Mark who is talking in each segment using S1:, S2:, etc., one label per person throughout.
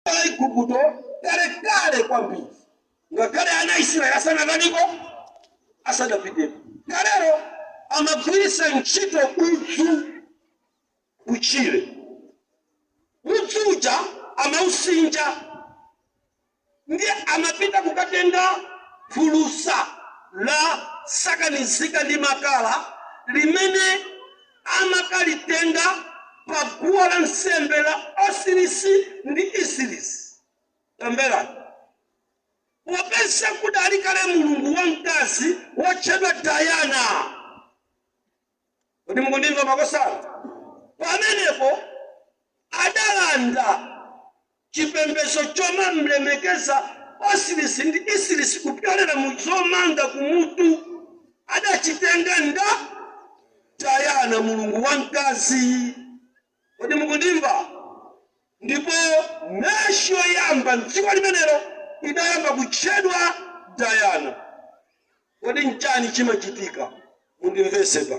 S1: la Igupto kalekale kwambiri, ngakhale ana a Isiraeli asanataniko? Asadapiteko. Kalelo amagwiritsa ntchito udzu kutchire. Udzu uja amausinja ndiye amapita kukatenga phulusa losakanizika ndi makala limene amakalitenga pa guwa la nsembe la Osirisi ndi Isirisi. Tamverani. Popeza kudali kale mulungu wamkazi wotchedwa Dayana. Kodi mukundimva makosana? Pamenepo adalanda Chipembedzo chomamlemekeza Osiris ndi Isiris kupyolera mu zomanga kumutu adachitenga nda Dayana, mulungu wamkazi. Kodi mukundimva? Ndipo meche yoyamba m'dziko limenelo idayamba kutchedwa Dayana. Kodi nchani chimachitika? Mundimvetse pa.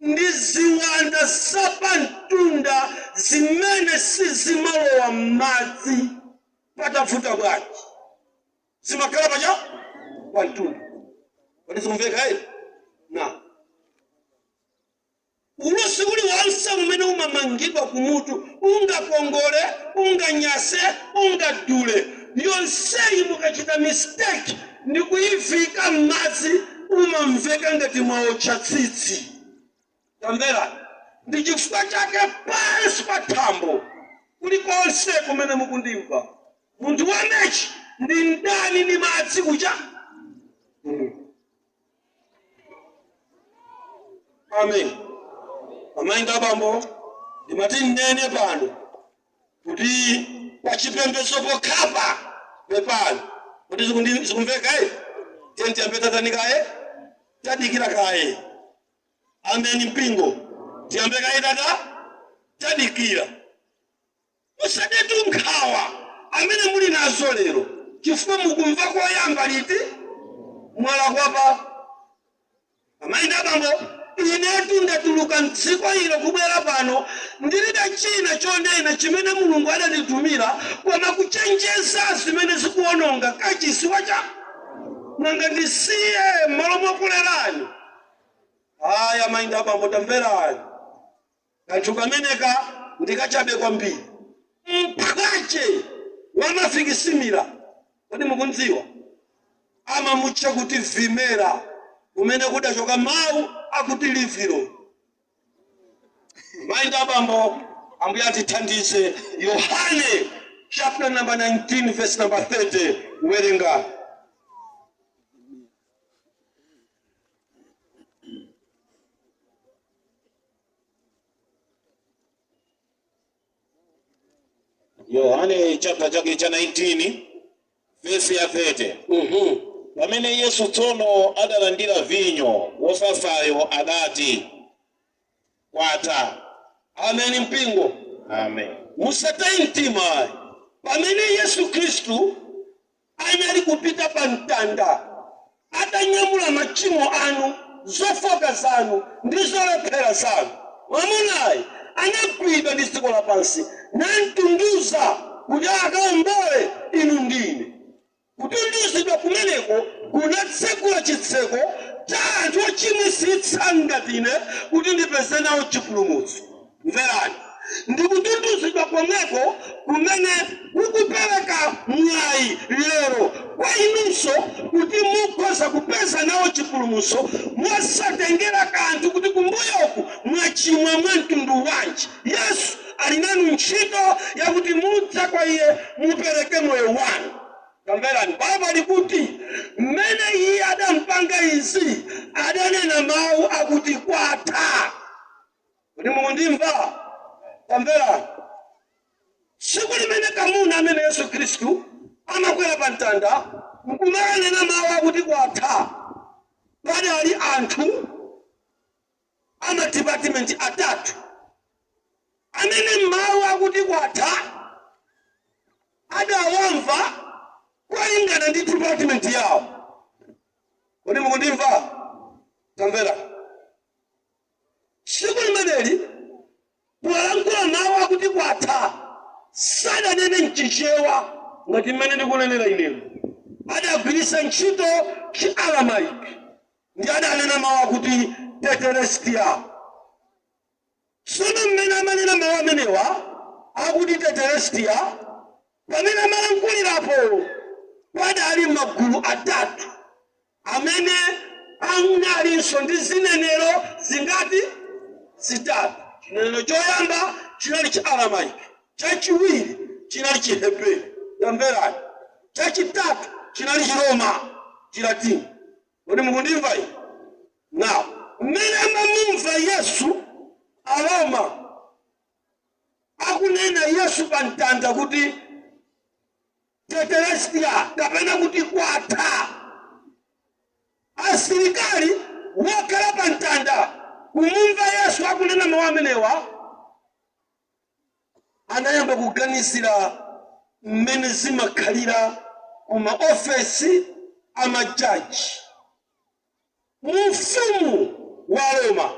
S1: ndi ziwanda zapamtunda zimene sizimalowa m'madzi patavuta bwanji zimakhala pa cha pamtunda kodi zikumveka eti na ulusi uliwonse umene umamangidwa kumutu ungakongole unganyase ungadule yonseyi mukachita mistake ndi kuiviika m'madzi umamveka ngati mwaotcha tsitsi. Tamverani! Ndi chifukwa chake pansi pa thambo, kulikonse kumene mukundimva munthu wa meche, ndi mdani ndi madzi kucha. amen amayi ndi abambo ndimati ndinene pano kuti pachipembedzo pokhapa pepani kuti zikumveka eti tiye tiyambe tatani kaye tadikira kaye ameni mpingo tiyambe kaye tata tadikira Musadetu nkhawa amene muli nazo lero chifukwa mukumva koyamba liti? Mwalakwa pa Amayi ndi abambo, inetu ndatuluka m'dziko ilo kubwera pano ndilibe china chonena chimene Mulungu adanditumira koma kuchenjeza zimene zikuononga kachisi wa cha Nanga ndisiye m'malo mokulerani? Ayi amayi ndi abambo tamverani. Kanthu kameneka ndi kachabe kwambiri. Mphwache wa mafikisimila, kodi mukum'dziwa? Amamutcha kuti vimera, kumene kudachoka mawu akuti liviloli. Amayi ndi abambo, Ambuye atithandize. Yohane chapter number 19 verse number 30, werenga.
S2: yohane chapter chake cha 19 vesi ya 30 Mhm. pamene yesu tsono adalandira vinyo wosasayo adati kwatha
S1: ameni mpingo amen
S2: musataye
S1: mtima pamene yesu khristu anali kupita pa mtanda, atanyamula machimo anu, zofooka zanu, ndi zolephera zanu. Mwamunayi anagwidwa ndi dziko lapansi namtunduza kuti akaombole inu ndi ine. Kutunduzidwa kumeneko kunatsekula chitseko cha anthu ochimwisitsa ngati ine kuti ndipeze nawo chipulumutso. Mverani, ndi kutunduzidwa komweko kumene kukupereka mwayi lero kwa inunso kuti mukhoza kupeza nawo chipulumutso mosatengera kanthu kuti kumbuyoku mwachimwa mwa mtundu wanji. Yesu ali nanu ntchito yakuti mudza kwa Iye mupereke moyo wanu. Tamverani, Baibulo likuti m'mene Iye adapanga izi, adanena mau akuti kwatha. Kodi mukundimva? Tamvera. Tsiku limene kamuna amene Yesu Khristu amakwera pa mtanda nkumanena mawu akuti kwatha, padali anthu a madipatimenti atatu amene mawu akuti kwatha adawamva kolingana ndi dipatimenti yawo. Kodi mukundimva? Tamvera. Tsiku limeneli, polankhula mawu akuti kwatha, sadanene m'Chichewa ngati mmene ndikunenera inemu. Adagwiritsa ntchito Chiaramaiki ndiye adanena mawu akuti Tetelestia. Tsono mmene amanena mawu amenewa akuti Tetelestia, pamene amalankhulirapo padali magulu atatu. amene analinso ndi zinenero zingati? Zitatu. Chinenero choyamba chinali Chiaramaiki, chachiwiri chinali Chiheberi, tamverani, chachitatu chinali Chiroma, Chilatini. Kodi mukundimva ine? Now, mmene amamumva Yesu Aroma akunena Yesu pa mtanda kuti Tetelestia, kapena kuti Kwatha. Asilikali wokhala pa mtanda kumumva Yesu akunena mawu amenewa, anayamba kuganizira mmene zimakhalira ku maofesi a majaji mu ufumu wa Roma.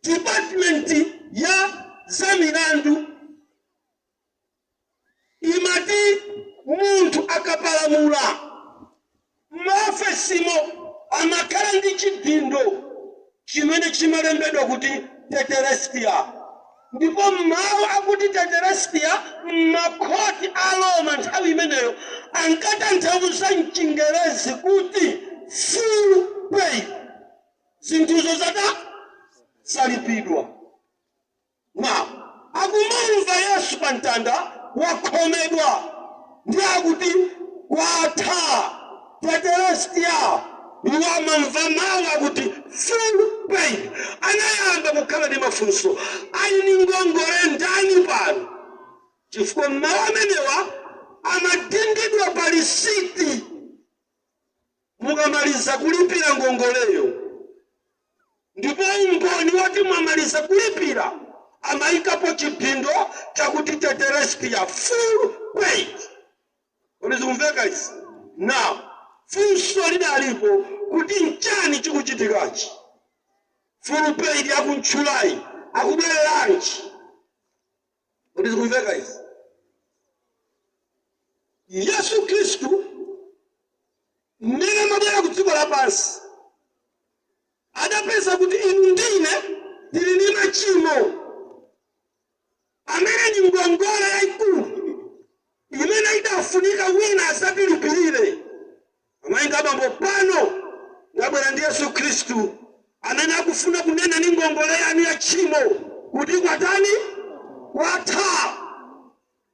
S1: Dipatimenti ya zamilandu imati munthu akapalamula m'maofesimo amakhala ndi chidindo chimene chimalembedwa kuti tetelestia ndipo mawu akuti tetelestia m'makhoti a Roma nthawi imeneyo ankatanthauza mchingerezi kuti full paid zinthuzo zatha zalipidwa Mmene akumumva Yesu pa mtanda, wakhomedwa, ndiye akuti, Kwatha. Tetelestia. Iwo amamva mawu akuti, Full paid. Anayamba kukhala ndi mafunso, Ali ndi ngongole ndani pano? Chifukwa mawu amenewa amadindidwa pa lisiti. Mukamaliza kulipira ngongoleyo ndipo umboni woti mwamaliza kulipira amaikapo chidindo chakuti Tetelestia full paid. Kodi zikumveka izi? Now, funso lidalipo kuti nchani chikuchitikachi? Full paid yakuntchulayi akuneneranji? Kodi zikumveka izi? Yesu Khristu mmene amabwera ku dziko lapansi adapeza kuti inu ndi ine tili ndi machimo amene ndi ngongole yayikulu imene idafunika wina adzatilipirire Amayi ndi abambo pano, ndabwera ndi Yesu Khristu amene akufuna kunena ndi ngongole yanu ya tchimo kuti kwatani? Kwatha.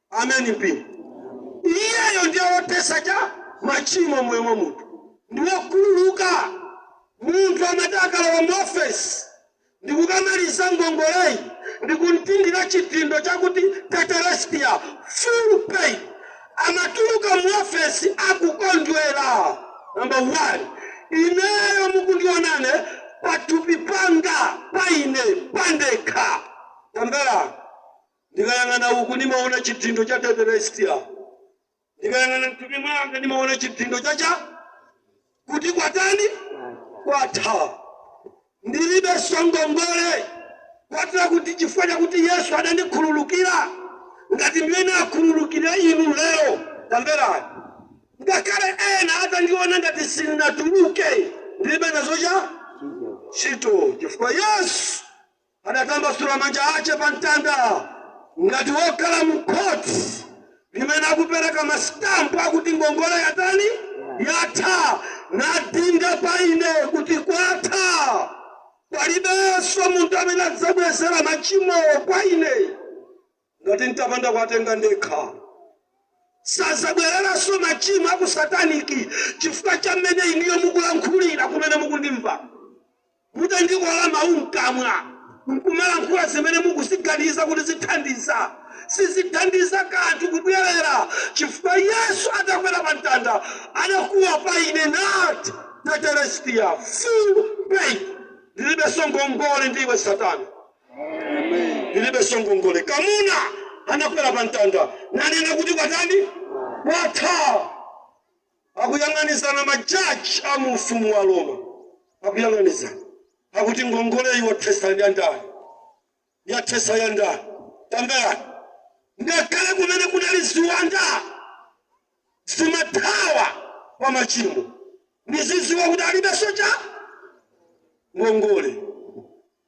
S1: Ameni mpingo. Iyeyo ndiye wothetsa za machimo mmoyo mwa munthu, ndi wokhululuka. Munthu amati akalowa mu ofesi ndikukamaliza ngongoleyi ndikumdindira chidindo chakuti tetelestia full pay amatuluka muofesi akukondwera namba 1 ineyo mukundionane pathupi panga paine pandekha tamvera ndikayang'ana uku ndimaona chidindo cha tetelestia ndikayang'ana mthupi mwanga ndimaona chidindo chacha kuti kwatani kwatha ndilibenso ngongole kwathera kuti chifukwa chakuti yesu adandikhululukira ngati mmene akhululukira inu lero tamvera ngakhale ena atandiona ngati sindinatuluke ndilibe nazo cha ntchito chifukwa yesu Adatambasula manja ache pamtanda ngati wokhala m'khoti limene akupereka masitampu akuti ngongole yatani? Yatha. Nadinda pa ine kuti, Kwatha! Palibenso munthu amene adzabwezera machimo kwa ine. Ngati ntapanda kuwatenga ndekha, sadzabwereranso machimo aku satanic chifukwa cha mmene inuyo mukulankhulira kumene mukundimva mutandikola mawu mkamwa nkumalankhula zimene mukuziganiza kuti zithandiza sizithandiza kanthu kubwerera chifukwa yesu atakwera pa mtanda anakuwa pa ine nati tetelestia full paid ndilibenso ngongole ndi iwe satani ndilibenso ngongole kamuna anakwera pa mtanda nanena kuti kwatani kwatha akuyang'anizana majaji a mu ufumu wa roma akuyang'anizana akuti ngongoleyi wathetsa ya ndani yathetsa ya ndani tamvera ngakhale kumene kunali ziwanda zimathawa kwa machimo ndizidziwa kuti alibenso cha ngongole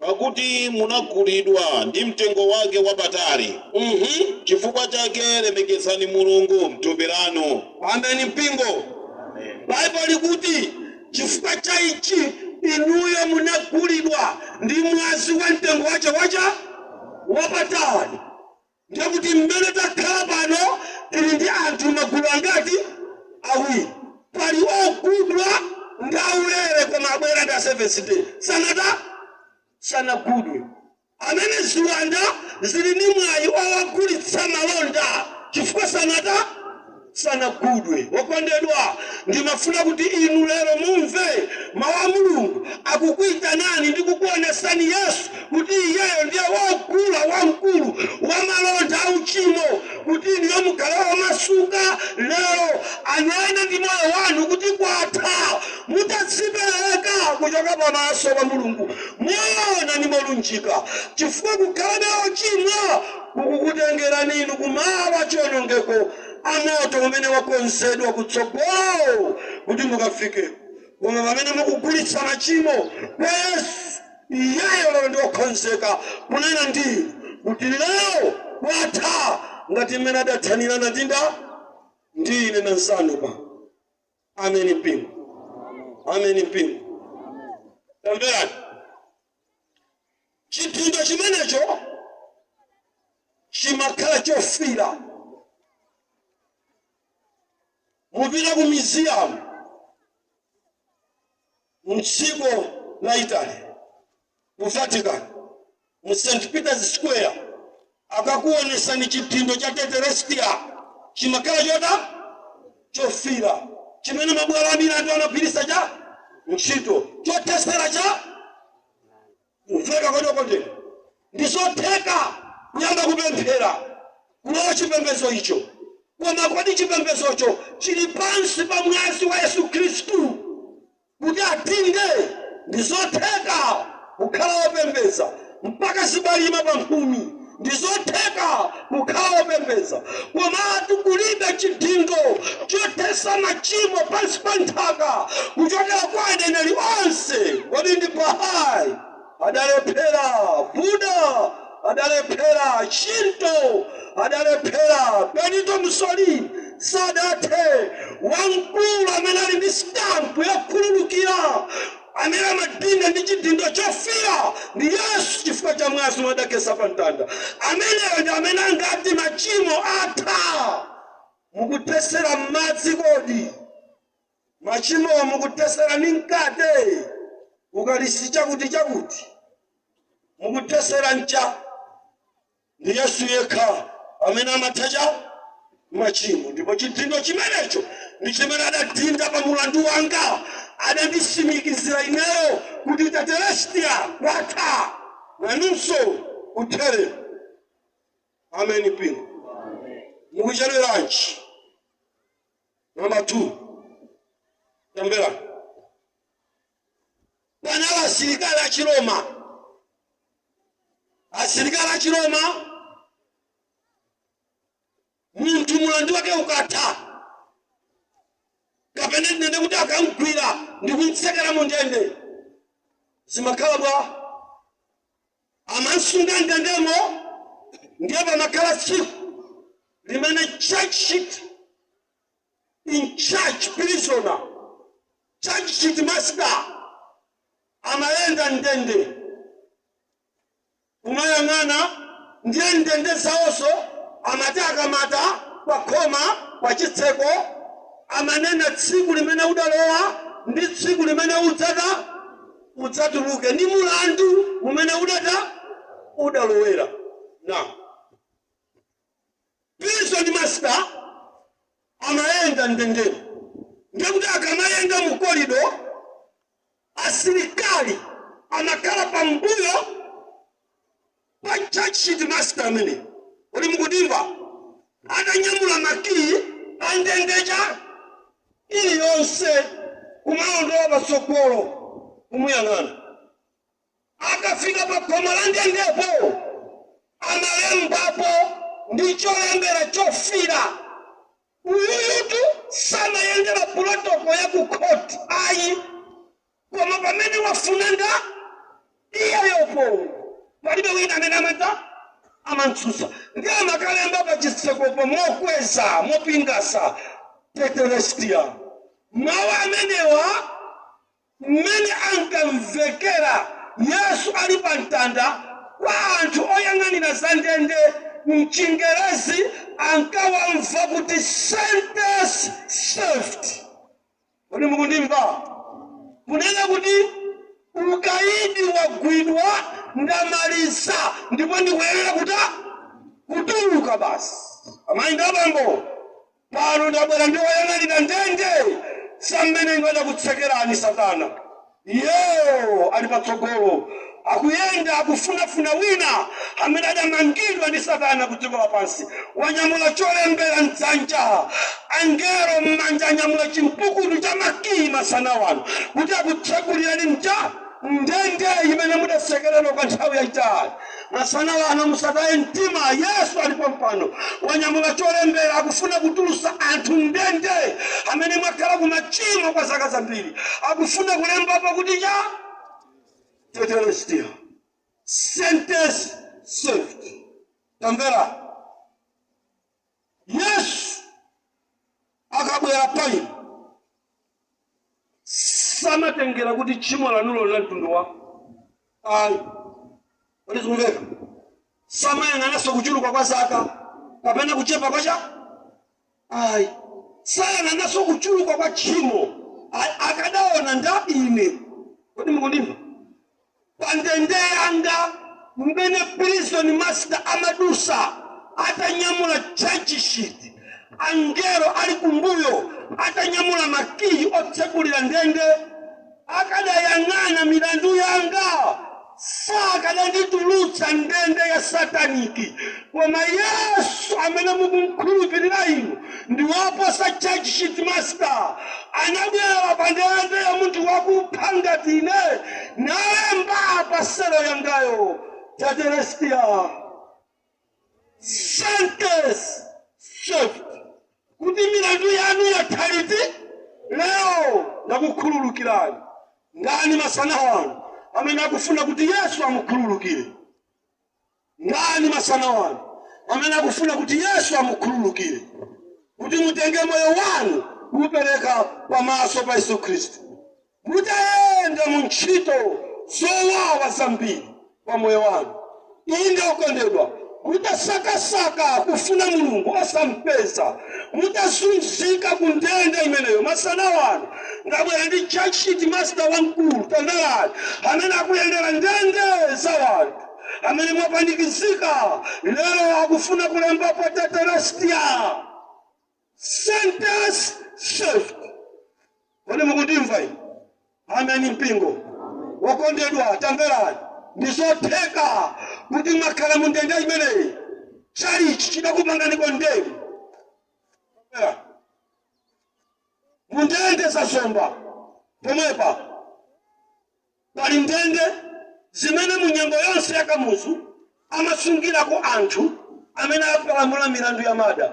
S2: Pakuti munagulidwa ndi mtengo wake wapatali, chifukwa chake lemekezani Mulungu mthupi lanu. Amen mpingo
S1: bible likuti chifukwa cha ichi inuyo munagulidwa ndi mwazi wa mtengo wache wacha wapatali ndiye kuti mmene takhala pano tili ndi anthu magulu angati awiri pali ogudwa ndi aulere koma abwera ndi aseventh day sanata sanagudwe amene ziwanda zili ndi mwayi owagulitsa malonda chifukwa sanata sanagudwe. Okondedwa, ndimafuna kuti inu lero mumve Mawu a Mulungu akukuitanani ndi kukuonetsani Yesu kuti Iyeyo ndiye wogula wamkulu wa malonda a uchimo, kuti inuyo mukhale omasuka lero, anene ndi moyo wanu kuti kwatha, mutadzipereka kudza pamaso pa Mulungu moona ndi molunjika, chifukwa kukhalabe ochimwa kukukutengerani inu ku malo a chionongeko a moto umene wakonzedwa kutsogolo kuti mukafikeko koma pamene mukugulitsa machimo kwa yesu iyeyo lero ndi wokonzeka kunena ndi inu kuti lero kwatha ngati mmene adathanirana ndi nda ndi ine nanzanu pa Ameni mpingo. Ameni mpingo. Tamverani. Chipinda chimenecho chimakhala chofira. Mupita ku museum mdziko la Italy. mu Vatican mu St Peters Square akakuonesani chidindo cha tetelestia chimakhala chota chofira chimene mabwalo a milandu anagwiritsa cha ntchito chothetsera cha kumveka kotekote ndi zotheka kuyamba kupemphera kulowa chipembedzo icho koma kodi chipembedzocho chili pansi pa mwazi wa yesu khristu kuti adinde ndi zotheka kukhala wopembedza mpaka zibalima pa mphumi ndi zotheka kukhala wopembedza komatu kulibe chidindo chothetsa machimo pansi pa nthaka kuchokera kwa aneneri onse kodi ndi bahai adalephera, Buddha adalephera, Shinto adalephera, Benito Mussolini sadathe, wamkulu amene ali ndi sitampu yokhululukira, amene amadinda ndi chidindo chofira ndi Yesu chifukwa cha mwazi umene adakhetsa pa mtanda. Ameneyo ndi amene angati machimo atha. Mukuthetsera m'madzi kodi? Machimo mukuthetsera ndi mkate ukalisitia chakuti chakuti mukuthetsera ncha ndi Yesu yekha amene amatha cha machimo ndipo chidindo chimenecho ndi chimene adadinda pa mulandu wanga adanditsimikizira ineyo kuti tetelestia kwatha nanunso kuthere ameni mpingo mukuchedweranji Namba 2 tamvera panali asilikali achiroma asilikali achiroma munthu mlandu wake ukatha kapena ndinene kuti akamgwira ndi kumtsekera mu ndende zimakhala bwa Amamsunga mndendemo ndiye pamakhala tsiku limene charge sheet in charge prisoner charge sheet master amayenda mndende kumayang'ana ndiye mndende zawozo amati akamata kwa khoma kwa chitseko amanena tsiku limene udalowa ndi tsiku limene udzata udzatuluke ndi mlandu umene udata udalowera na prison master amayenda mndendemo ndekuti akamayenda mu korido asilikali amakhala pambuyo pa charge sheet master amene kodi mukundimva atanyamula makiyi a ndende ya iliyonse kumalondola patsogolo kumuyang'ana akafika pa khomo la ndendepo amalembapo ndi cholembera chofira uyuyutu samayendera protocol ya ku khoti ayi Koma pamene wafuna iyeyopo palibe wina amene amadza amamtsutsa ndiye amakalemba pa chitsekopo mokweza mopingasa tetelestia mawu amenewa mmene ankamvekera yesu ali pa mtanda kwa anthu oyang'anira za ndende mchingerezi ankawamva kuti sentence served Kodi mukundimva? Kunena kuti ukaidi wagwidwa, ndamaliza ndipo ndikuyenera kuta kutuluka basi. Amayi ndi abambo, pano ndabwera ndi woyang'anira ndende zimene inuyo adakutsekerani Satana. Iyeyo ali patsogolo, akuyenda akufunafuna wina amene adamangidwa ndi satana ku dziko lapansi. Wanyamula cholembera m'dzanja, angelo m'manja anyamula chimpukutu cha makiyi masana ano kuti akutsegulireni mja m'ndende imene mudatsekeredwa kwa nthawi yaitali. Masana ano musataye mtima Yesu ali pompano wanyamula cholembera akufuna kutulutsa anthu mndende amene mwakhala kumachimo kwa zaka zambiri akufuna kulembapo kuti cha tetelestia sentence served tamvera Yesu akabwera pa inu, samatengera kuti tchimo lanulo la mtundu wanji ayi. Kodi zikumveka? Samayang'ananso kuchuluka kwa zaka kapena kuchepa kwake ayi. Sayang'ananso kuchuluka kwa tchimo. Ayi, akadaona ndi ine. Kodi mukundimva? Pa ndende yanga m'mene prison master amadusa atanyamula charge sheet angelo ali kumbuyo atanyamula makiyi otsekulira ndende akadayang'ana milandu yanga sakadanditulutsa m'ndende ya sataniki koma Yesu amene mukumkhulupirira inu ndi woposa charge sheet master anabwera pa ndende ya munthu wakupha ngati ine nalemba pa selo yangayo tetelestia sentence served kuti milandu yanu yatha liti lero ndakukhululukirani ndani masana ano amene akufuna kuti yesu amukhululukire Ndani masana ano amene akufuna kuti Yesu amukhululukire, kuti mutenge moyo wanu kuupereka pamaso pa Yesu Khristu, mutayenda mu ntchito zowawa zambiri pa moyo wanu, inde okondedwa, mutasakasaka kufuna Mulungu osampeza, mutazunzika ku ndende imeneyo masana ano, ndabwera ndi charge sheet master wamkulu Tandalale amene akuyendera ndende za wanthu. amene mwapanikizika lero akufuna kulembapo tetelestia sentence served. Kodi mukundimva inu? Ameni mpingo wokondedwa, tamverani, ndi zotheka kuti mwakhala mu ndende imeneyi, chalichi chidakupanganiko ndende mu ndende za Zomba pomwepa Pali ndende zimene mu nyengo yonse ya Kamuzu amasungirako anthu amene apalamula milandu ya murder.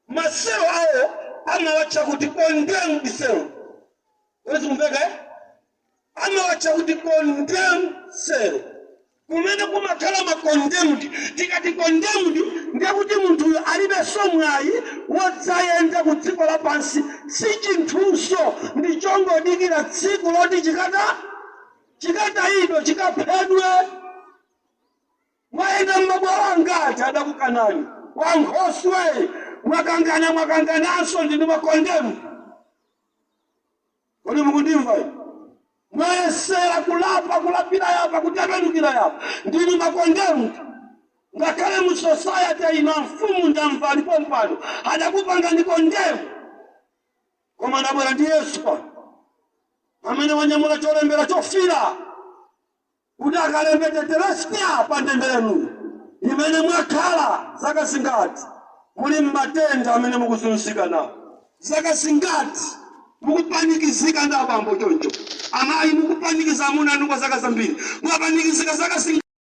S1: Maselo awo amawatcha kuti condemned cell. Kodi zikumveka? eh? Amawatcha kuti condemned cell. kumene kumakhala ma condemned. Tikati condemned ndiye kuti munthuyo alibenso mwayi wodzayenda ku dziko lapansi, si chinthunso, ndi chongodikira tsiku loti chikata, chikatayidwe, chikaphedwe. Mwayenda m'mabwalo angati adakukanani? Kwa ankhoswe! Mwakangana mwakangananso, ndinu ma condemned. kodi mukundimva inu? mwayesera kulapa kulapira yapa kutembenukira yapa ndinu makondemu ngakhale mu society ina amfumu ndamva alipo pompano adakupanga ndi kondemu koma ndabwera ndi yesu pano amene wanyamula cholembera chofira kuti akalembe Tetelestai pa ndende yanu imene mwakhala zaka zingati muli m'matenda amene mukuzunzika nawo, zaka zingati mukupanikizika ndi abambo choncho, amayi mukupanikiza amuna anu kwa zaka zambiri, mwapanikizika zaka zingati?